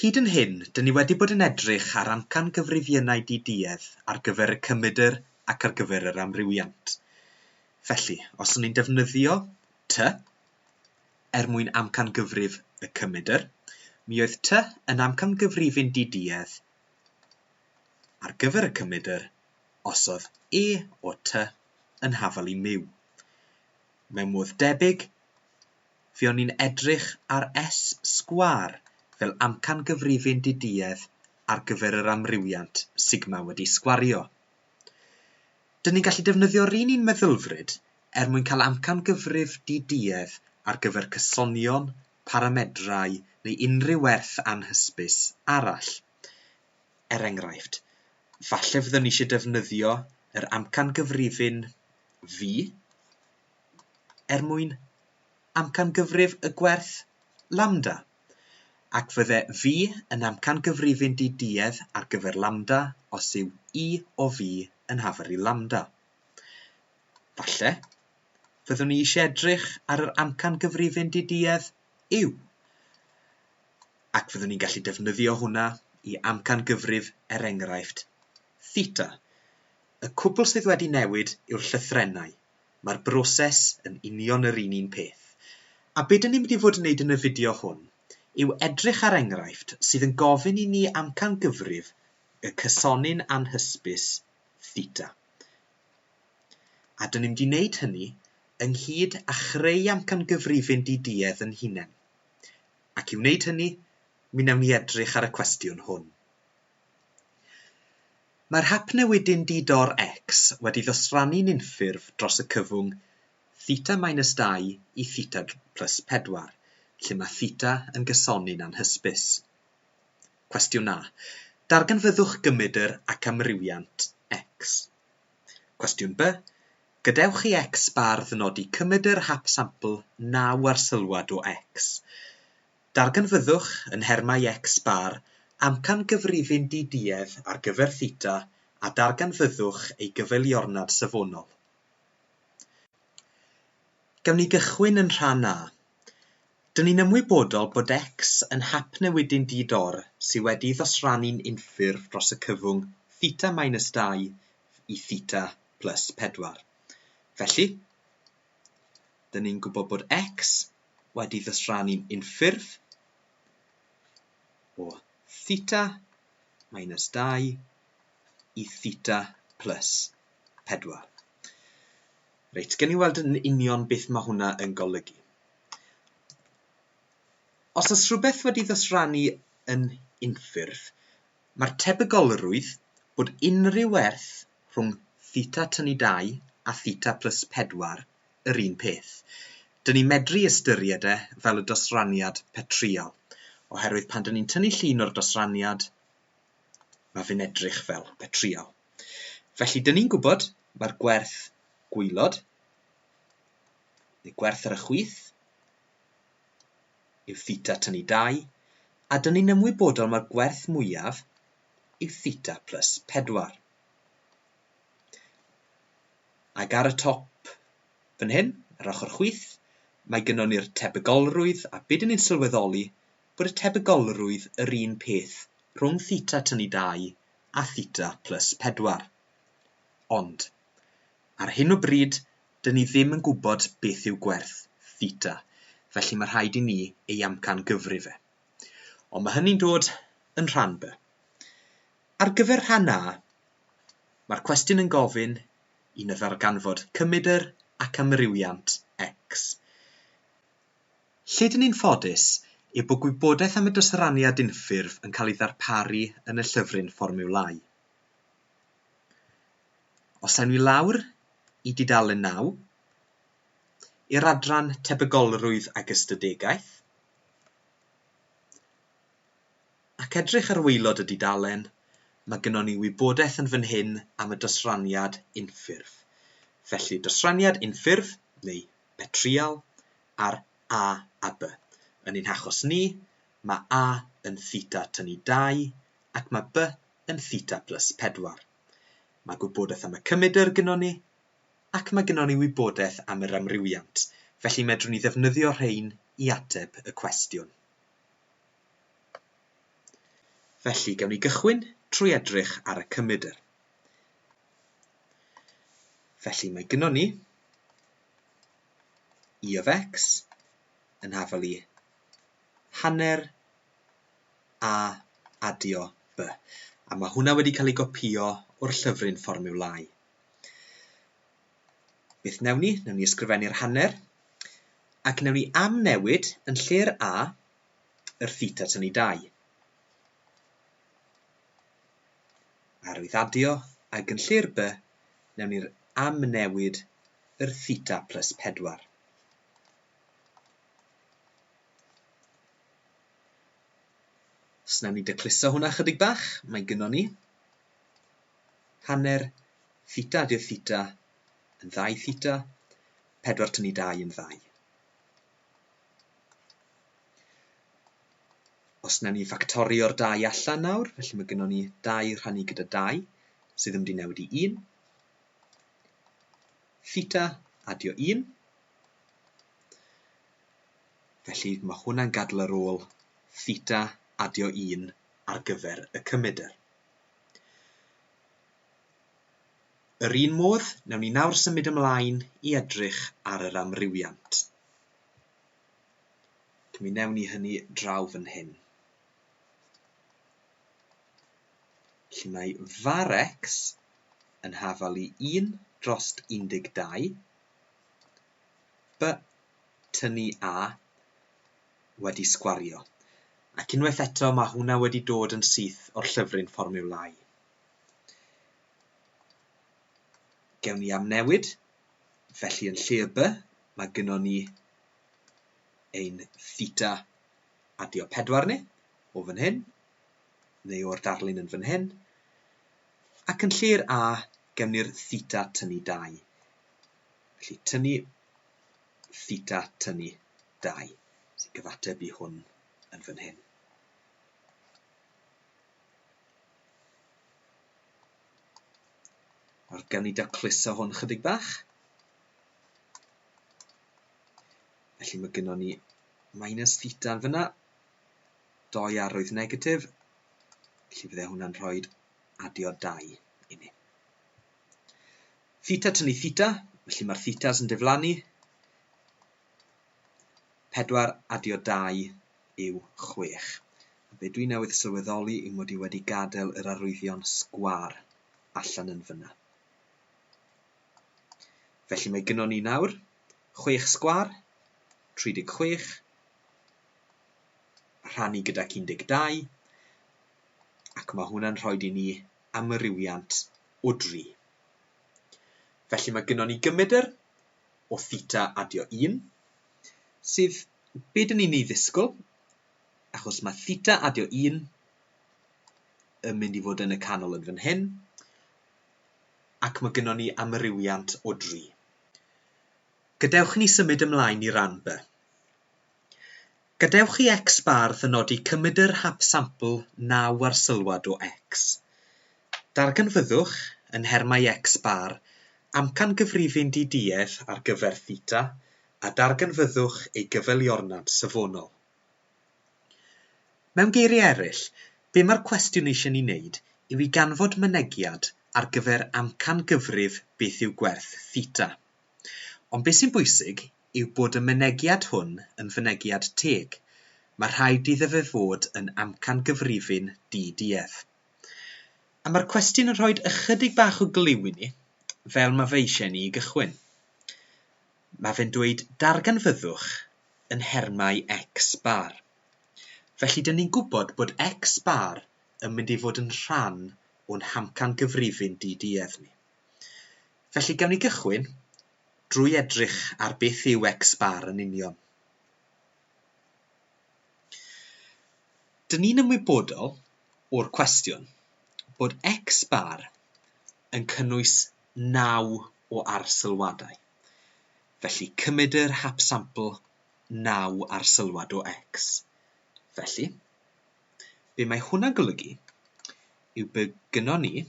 Hyd yn hyn, dŷn ni wedi bod yn edrych ar amcan gyfrifiennau di-duedd ar gyfer y cymydr ac ar gyfer yr amrywiant. Felly, os o'n i'n defnyddio ty er mwyn amcangyfrif y cymydr, mi oedd ty yn amcangyfrifin di-duedd ar gyfer y cymydr os oedd e o ty yn hafal i miw. Mewn modd debyg, Fuon ni'n edrych ar S-sgwâr fel amcangyfrifyn di-duedd ar gyfer yr amrywiant sigma wedi sgwario. Dyn ni'n gallu defnyddio'r un un meddylfryd er mwyn cael amcangyfrif di-duedd ar gyfer cysonion, paramedrau neu unrhyw werth anhysbys arall. Er enghraifft, falle fyddwn ni eisiau defnyddio yr amcangyfrifyn V, er mwyn amcangyfrif y gwerth lambda, ac fydde V yn amcangyfrifyn di-duedd ar gyfer lambda os yw E o V yn hafar i lambda. Falle, fyddwn ni eisiau edrych ar yr amcangyfrifyn di-duedd U, ac fyddwn ni'n gallu defnyddio hwnna i amcangyfrif er enghraifft theta. Y cwbl sydd wedi newid yw'r llythrennau, Mae'r broses yn union yr un un peth. A be dyn ni'n mynd i fod yn neud yn y fideo hwn yw edrych ar enghraifft sydd yn gofyn i ni amcangyfrif y cysoni'n anhysbys theta. A dyn ni'n mynd i neud hynny ynghyd a chreu amcangyfrifyn di-duedd yn hunen. Ac i wneud hynny, mi newn ni edrych ar y cwestiwn hwn. Mae'r hap newidyn di-dor X wedi dosrannu'n unffurf dros y cyfwng theta minus 2 i theta plus 4, lle mae theta yn gysoni'n anhysbys. Cwestiwn A, Darganfyddwch gymedr ac amrywiant X. Cwestiwn B, Gadewch i X bar ddynodi cymedr hap sampl 9 arsylwad o X. Darganfyddwch yn nhermau X-bar amcan gyfrifyn di-duedd ar gyfer theta a darganfyddwch ei gyfeiliornad safonol. Gawn ni gychwyn yn rhan A. Dŷn ni'n ymwybodol bod X yn hap newidyn di-dor sydd wedi'i ddosrannu'n unffurf dros y cyfwng theta minus dau i theta plus pedwar. Felly, Dyn ni'n gwybod bod x wedi ddosrannu'n unffurf o theta minus 2 i theta plus 4. Reit, gen i weld yn union beth mae hwnna yn golygu. Os oes rhywbeth wedi ddosrannu yn unffurf, Mae'r tebygolrwydd bod unrhyw werth rhwng theta tynu dau a theta plus pedwar yr un peth. Dŷn ni medru ystyried e fel y dosraniad petryal, oherwydd pan dŷn ni'n tynnu llun o'r dosraniad, mae fe'n edrych fel petryal. Felly dŷn ni'n gwybod mae'r gwerth gwaelod, neu gwerth ar y chwith, yw theta tynnu 2, a dyn ni'n ymwybodol mai'r gwerth mwyaf yw theta plus 4. Ac ar y top fan hyn, yr ochr chwith, mae gynnon ni'r tebygolrwydd a be dyn ni'n sylweddoli bod y tebygolrwydd yr un peth rhwng theta tynnu 2 a theta plus 4. Ond, ar hyn o bryd, Dyn ni ddim yn gwybod beth yw gwerth theta, felly mae rhaid i ni ei amcangyfri fe. Ond mae hynny'n dod yn rhan B. Ar gyfer rhan A, mae'r cwestiwn yn gofyn i na ddarganfod cymedr ac amrywiant X. Lle dyn ni'n ffodus yw bod gwybodaeth am y dosraniad unffurf yn cael ei ddarparu yn y llyfryn fformiwlau. Os awn ni lawr i dudalen naw, i'r adran Tebygolrwydd ag Ystadegaeth, ac edrych ar waelod y dudalen, mae gynnon ni wybodaeth yn fan hyn am y dosraniad unffurf. Felly, dosraniad unffurf, neu betrial, ar A a B. Yn ein hachos ni, mae A yn theta tynnu 2 ac mae B yn theta plus 4. Mae gwybodaeth am y cymedr gynnon ni, ac mae gynnon ni wybodaeth am yr amrywiant, felly medrwn ni ddefnyddio rhein i ateb y cwestiwn. Felly, gawn ni gychwyn trwy edrych ar y cymedr. Felly, mae gynnon ni e of x yn hafel i hanner a adio by. A mae hwnna wedi cael ei gopïo o'r llyfryn fformiwlau. Beth newn ni? Newn ni ysgrifennu'r hanner, ac newn ni amnewid yn lle'r a, yr theta tynnu 2. arwyddadio ac yn lle'r by, newn ni'r amnewid yr theta plus 4. Os wnawn ni decluso hwnna chydig bach, mae gynnon ni hanner theta, dydd theta yn ddau theta, pedwar tynnu dau yn ddau. Os wnawn ni ffactorio'r dau allan nawr, felly mae gynnon ni dau rhannu gyda dau, sydd yn mynd i newid i un. Theta adio un. Felly, mae hwnna'n gadael yr ôl theta adio 1 ar gyfer y cymedr. Yr un modd, newn ni nawr symud ymlaen i edrych ar yr amrywiant. Mi newn ni hynny draw fan hyn. Felly mae var x yn hafal i 1 dros 12 By tynnu a wedi sgwario. Ac unwaith eto mae hwnna wedi dod yn syth o'r llyfryn fformiwlau. Gewn ni amnewid, felly yn lle y by, mae gynnon ni ein theta adio pedwar ni, o fan hyn, neu o'r darlun yn fan hyn, ac yn lle'r a, gewn ni'r theta tynnu dau. Felly tynnu theta tynnu 2 sy'n cyfateb i hwn yn fan hyn. Nawr gawn ni dacluso hwn chydig bach. Felly mae gynnon ni minus theta yn fyna, doi arwydd negatif, felly fydde hwnna'n rhoi adio dau i ni. Theta tynnu theta, felly mae'r thetas yn diflannu. 4 adio 2 yw 6. A be dwi newydd sylweddoli yw mod i wedi gadael yr arwyddion sgwar allan yn fyna. Felly mae gynon ni nawr 6 sgwar, 36, rhannu gydac 12, ac mae hwnna'n rhoi i ni amrywiant o dri. Felly mae gynnon ni gymedr o theta adio 1, sydd be dyn ni'n ei ddisgwyl, achos mae theta adio 1 yn mynd i fod yn y canol yn fan hyn, ac mae gynnon ni amrywiant o dri. Gadewch ni symud ymlaen i ran B. Gadewch i Xbarth y nodi Cymmyder hap sampl naw arsylwad o X. Darganfyddwch, yn nhermau X-bar, amcangyfrifyn di-duedd ar gyfer theta a darganfyddwch ei gyfeiliornad safonol. Mewn geiriau eraill, be mae'r cwestiwn eisiau ni wneud yw i ganfod mynegiad ar gyfer amcangyfrif beth yw gwerth theta. Ond be sy'n bwysig yw bod y mynegiad hwn yn fynegiad teg, mae rhaid iddo fe fod yn amcangyfrifin di-duedd. A mae'r cwestiwn yn rhoi ychydig bach o glyw i ni, fel mae fe eisiau ni i gychwyn. Mae fe'n dweud darganfyddwch yn nhermau X bar. Felly, dyn ni'n gwybod bod X bar yn mynd i fod yn rhan o'n hamcangyfrifin di-duedd ni. Felly, gawn ni gychwyn drwy edrych ar beth yw X-bar yn union. Dyn ni'n ymwybodol o'r cwestiwn bod X-bar yn cynnwys naw o arsylwadau, felly cymydyr hapsampl naw arsylwad o X. Felly, be mae hwnna'n golygu yw bod gynnon ni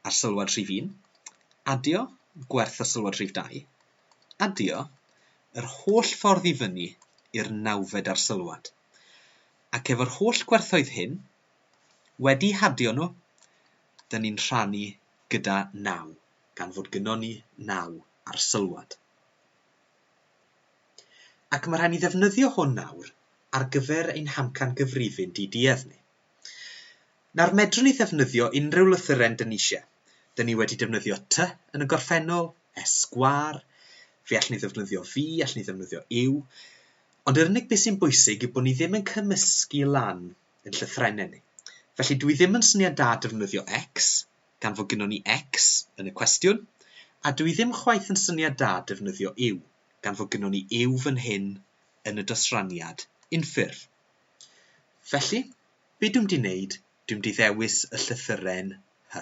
ar sylwad rhif un, adio gwerth ar sylwad rhif dau, adio yr holl ffordd i fyny i'r nawfed ar sylwad, ac efo'r holl gwerthoedd hyn, wedi hadio nhw, dyn ni'n rhannu gyda naw, gan fod gynnon ni naw ar sylwad. Ac mae rhaid ni ddefnyddio hwn nawr ar gyfer ein hamcan gyfrifyn di-duedd ni. Nawr medrwn ni ddefnyddio unrhyw lythyren dyn ni eisiau. Dyn ni wedi defnyddio ty yn y gorffennol, esgwâr, fe allwn ni ddefnyddio fi, allwn ni ddefnyddio yw, ond yr unig beth sy'n bwysig yw bod ni ddim yn cymysgu lan yn llythrennau ni. Felly dwi ddim yn syniad da defnyddio X, gan fod gynnon ni X yn y cwestiwn, a dwi ddim chwaith yn syniad da defnyddio yw, gan fod gynnon ni yw fan hyn yn y dosraniad unffurf. Felly, be dwi'm di wneud, dwi'm di ddewis y llythyren hy.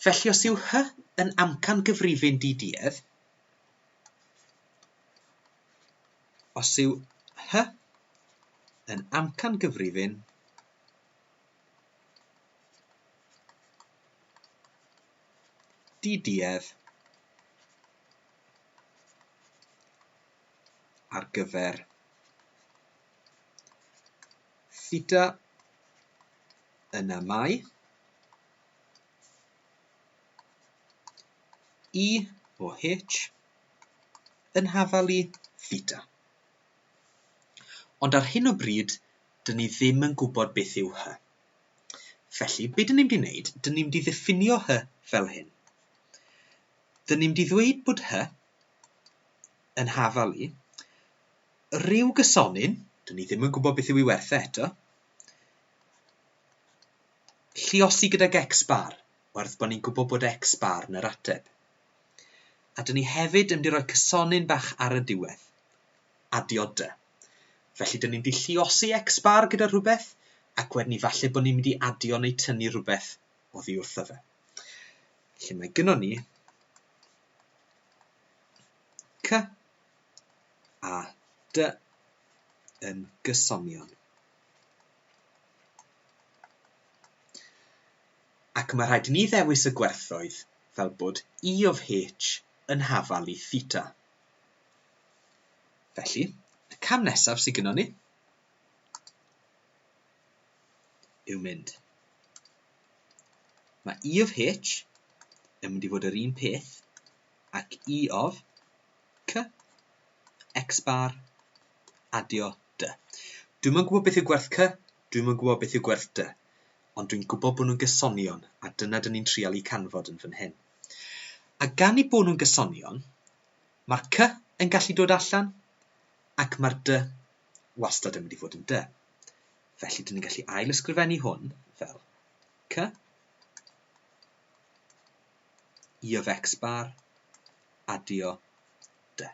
Felly os yw hy yn amcan gyfrifyn di-duedd, os yw hy yn amcan gyfrifyn di-duedd, ar gyfer theta yna mae i e o h yn hafalu theta. Ond ar hyn o bryd, dyn ni ddim yn gwybod beth yw hy. Felly, be dyn ni'n di wneud? Dyn ni'n di ddiffinio hy fel hyn. Dyn ni'n di ddweud bod hy yn hafal i. Rhyw gysonyn, dwn i ddim yn gwybod beth yw ei werth e eto. Lliosi gydag X-bar, werth bod ni'n gwybod bod X-bar yn yr ateb. A dyn ni hefyd yn mynd i roi cysonyn bach ar y diwedd. Adioda. Felly dyn ni'n dilluosi X-bar gyda rhywbeth, ac wedyn ni falle bod ni'n mynd i adio neu tynnu rhywbeth oddi wrtho fe. Felly mae gynnwn ni C a D yn gysonion. Ac mae rhaid i ni ddewis y gwerthoedd fel bod E of H yn hafal i theta. Felly, y cam nesaf sydd gynnwn ni yw mynd. Mae E of H yn mynd i fod yr un peth ac E of C, X bar, adio D. Dwi'n mwyn gwybod beth yw gwerth C, dwi'n mwyn gwybod beth yw gwerth D, ond dwi'n gwybod bod nhw'n gysonion a dyna dyn ni'n trial i canfod yn fan hyn. A gan i bod nhw'n gysonion, mae'r C yn gallu dod allan ac mae'r D wastad yn mynd i fod yn D. Felly, dyn ni'n gallu ail-ysgrifennu hwn fel c i of x bar adio d.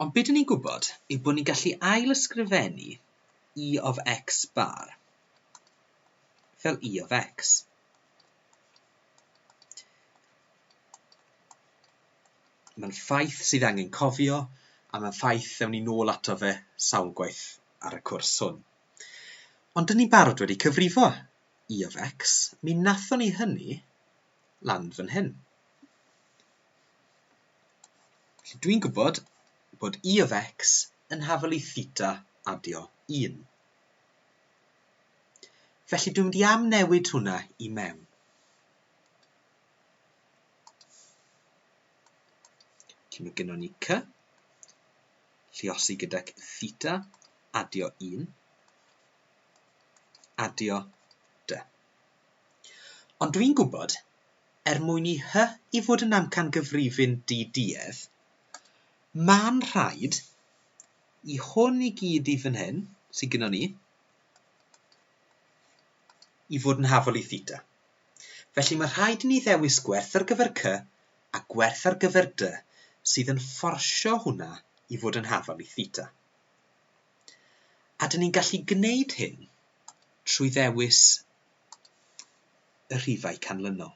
Ond beth ni'n gwybod yw bod ni'n gallu ail-ysgrifennu i of x bar fel i of x. Mae'n ffaith sydd angen cofio, a mae'n ffaith ddewn ni nôl ato fe sawl gwaith ar y cwrs hwn. Ond dyn ni'n barod wedi cyfrifo E of X, mi nathon ni hynny lan fan hyn. Felly dwi'n gwybod bod E of X yn hafelu theta adio 1. Felly dwi'n mynd i am newid hwnna i mewn. Felly mae gynnon ni cy, lliosi gydag theta, adio 1, adio dy. Ond dwi'n gwybod, er mwyn i hy i fod yn amcan gyfrifin di duedd, mae'n rhaid Y hwn i gyd i fan hyn, sydd gyda ni, i fod yn hafol i theta. Felly mae rhaid i ni ddewis gwerth ar gyfer c a gwerth ar gyfer d sydd yn fforsio hwnna i fod yn hafol i theta. A dyn ni'n gallu gwneud hyn trwy ddewis y rhifau canlynol.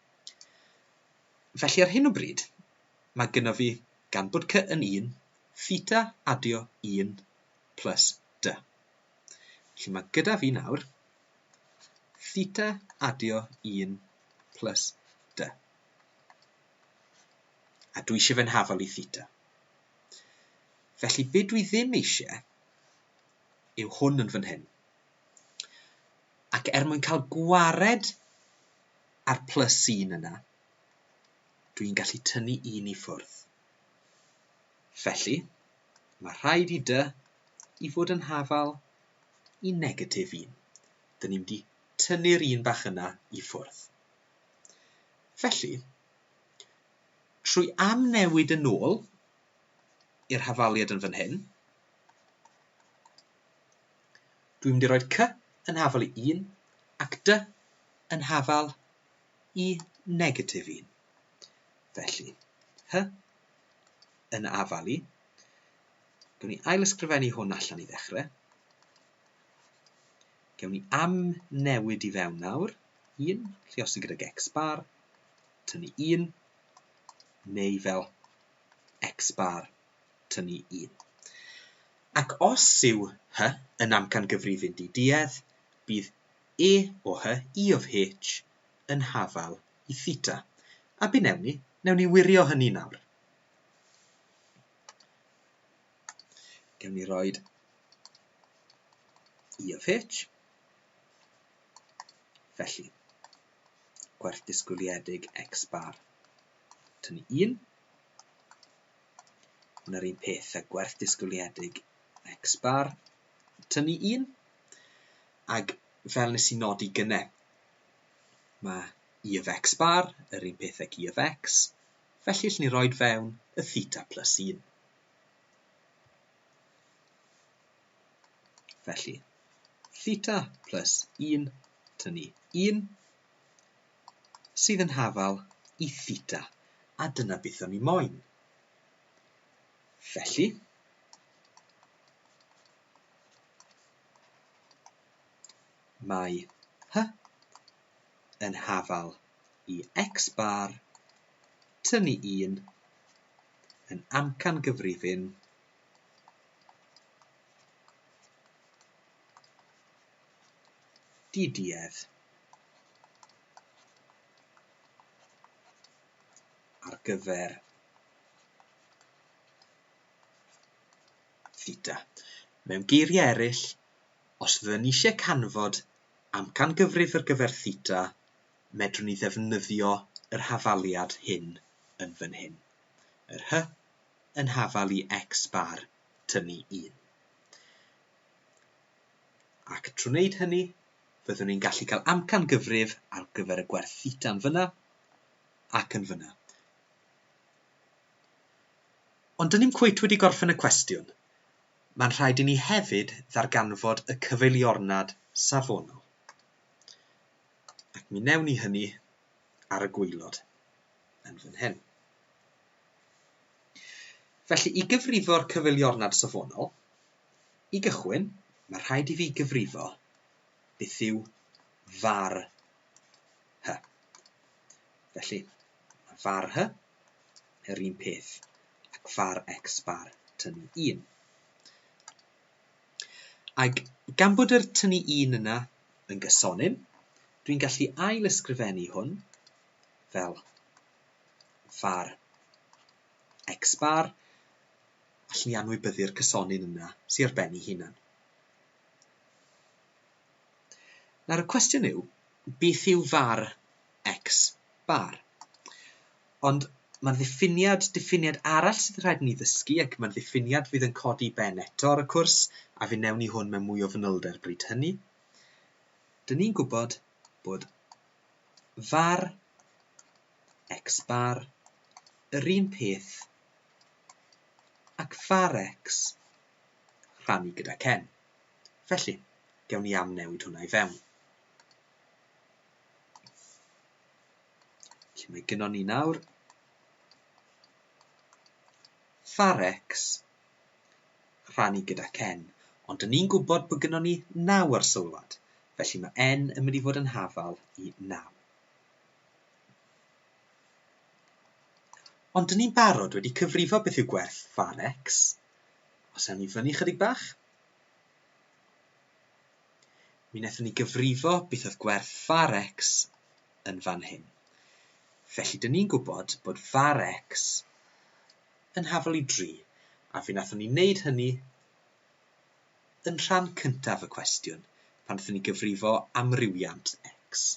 Felly ar hyn o bryd, mae gynno fi, gan bod cy yn un, theta adio un plus dy. Felly mae gyda fi nawr theta adio un plus dy. A dwi eisiau fe'n hafal i theta. Felly be dwi ddim eisiau yw hwn yn fan hyn. Ac er mwyn cael gwared A'r plus sy'n yna, dwi'n gallu tynnu un i ffwrdd. Felly, mae rhaid i dy i fod yn hafal i negatif 1. Dyn ni'n mynd i tynnu'r un bach yna i ffwrdd. Felly, trwy amnewid yn ôl i'r hafaliad yn fan hyn, Dwi'n mynd i roi'r cy yn hafal i un ac dy yn hafal i negatif un. Felly, hy yn afal i. Gewn ni ailysgrifennu hwn allan i ddechrau. Gewn ni am newid i fewn nawr. 1, lliosi gydag X bar, tynnu 1, neu fel X bar tynnu un. Ac os yw H yn amcangyfrifyn di-duedd, bydd E o H, E of H, yn hafal i theta. A be wnewn ni? Wnewn ni wirio hynny nawr. Gewn ni roi E of H. Felly, gwerth disgwyliedig X bar tynnu 1. Ond yr un peth a gwerth disgwyliedig X bar, tynnu un, ac fel nes i nodi gynne, mae i e of X bar yr un peth ag i e of X, felly allwn ni roed fewn y theta plus 1. Felly, theta plus 1 tynnu 1, sydd yn hafal i theta, a dyna beth o'n i moyn. Felly, mae hy yn hafal i x bar tynnu un yn amcan gyfrifyn diduedd ar gyfer theta. Mewn geiriau eraill, os fyddwn ni eisiau canfod amcan gyfrif ar gyfer theta, medrwn ni ddefnyddio yr hafaliad hyn yn fan hyn. Yr hy yn hafal i x bar tynnu 1. Ac trwy wneud hynny, Fyddwn ni'n gallu cael amcan gyfrif ar gyfer y gwerth theta'n fyna ac yn fyna. Ond dyn ni'n cweit wedi gorffen y cwestiwn. Mae'n rhaid i ni hefyd ddarganfod y cyfeiliornad safonol. Ac mi newn ni hynny ar y gweilod yn fan hyn. Felly, i gyfrifo'r cyfeiliornad safonol, I gychwyn, mae rhaid i fi gyfrifo beth yw var hy. Felly, mae var hy yr un peth ac var x bar tynnu 1. Ac gan bod yr tynnu 1 yna yn gysonym, dwi'n gallu ail ysgrifennu hwn fel var x bar Allen ni anwybyddu'r cysonyn yna sy ar ben ei hunan. Nawr y cwestiwn yw, beth yw var x bar? Ond mae'n ddiffiniad, diffiniad arall sydd rhaid ni ddysgu ac mae'n ddiffiniad fydd yn codi ben eto ar y cwrs a fe newn ni hwn mewn mwy o fanylder bryd hynny. Dyn ni'n gwybod bod var x bar yr un peth Ac fa'r ecs, rhannu gyda Ken. Felly, gewn ni amnewid hwnna i fewn. Felly mae gynon ni nawr fa'r ecs, rhannu gyda Ken. Ond dyn ni'n gwybod bod gynon ni naw ar sylwad, felly mae n yn mynd i fod yn hafal i naw. Ond dyn ni'n barod wedi cyfrifo beth yw gwerth far X. Os awn ni fyny chydig bach, mi wnaethon ni gyfrifo beth oedd gwerth far X yn fan hyn. Felly, dyn ni'n gwybod bod far X yn hafol i 3, a fe wnaethon ni wneud hynny yn rhan cyntaf y cwestiwn, pan wnaethon ni gyfrifo amrywiant X.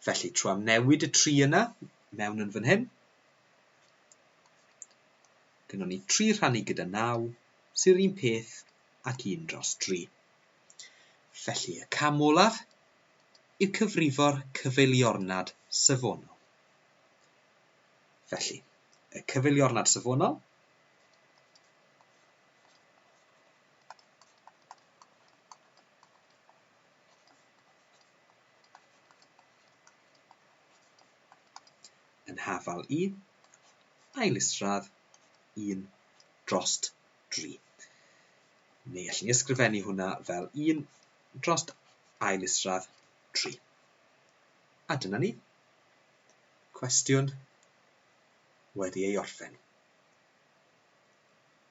Felly, trwy amnewid y tri yna, mewn yn fan hyn, gynnon ni 3 rhannu gyda 9, sy'r un peth ac 1 dros 3. Felly, y cam olaf yw cyfrifo'r cyfeiliornad safonol. Felly, y cyfeiliornad safonol Yn hafal i, ail isradd, un drost dri. Neu allwn ni ysgrifennu hwnna fel un drost ail isradd tri. A dyna ni. Cwestiwn wedi ei orffen.